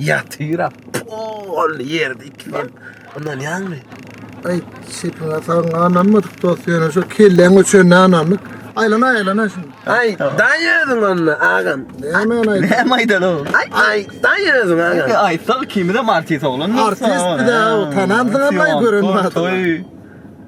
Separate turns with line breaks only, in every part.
Ýatyra pol ýerde iki ýel. Ondan ýaňmy? Ay
şeýtana saň ananmadyk dost ýöne şu kelleň üçin anandyk. Aýlana aýlana şun. Ay daýadyň
onda agam. Nämen aýt. Näme
aýdan o? Ay
ay daýadyň
agam. Aýtsa kimde
artist oglan. Artist bir de
o tanandyň ama gören adam.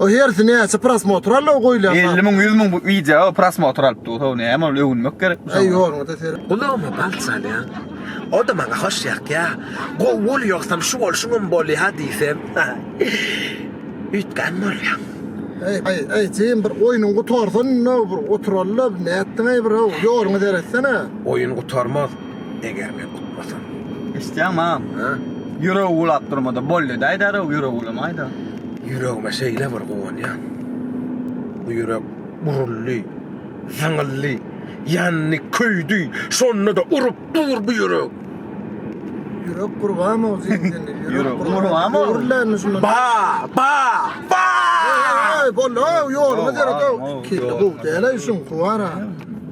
O hersi
näçe prosmotr aldy o goýlan. 50 müň 100 müň bu
wideo prosmotr alyp dur. Ho näme ol öwünmek gerek bu. Eý ýoluňda ser.
Gulagyma bal çalýaň.
O da maňa hoş ýakýa. Gowy bolýogsam şu bolşuň hem bolýa diýsem. Üýtgän bolýaň. Eý eý
eý Jim bir oýnuň gutarsyn indi bir oturalda nätdiň eý bir ýoluňa seretsene. Oýun gutarmaz.
Eger men utmasam. Isleýän mam.
Ha?
Ýüregi
ulap durmada bolýa da aýdar, ýüregi ulamaýda. Ýüregime
şeýle bir guwanýan. Bu ýürek buruldy, zyňyldy, ýandy, köýdi, şonda-da urup dur bu ýürek. Ýürek gurbamow zeýneli.
Ýürek gurbamow.
Gurlandy şunda. Ba!
Ba! Ba! Ey,
boldy,
ýoluňa deret. Kelle gowy
däl-aý
şuň,
guwara.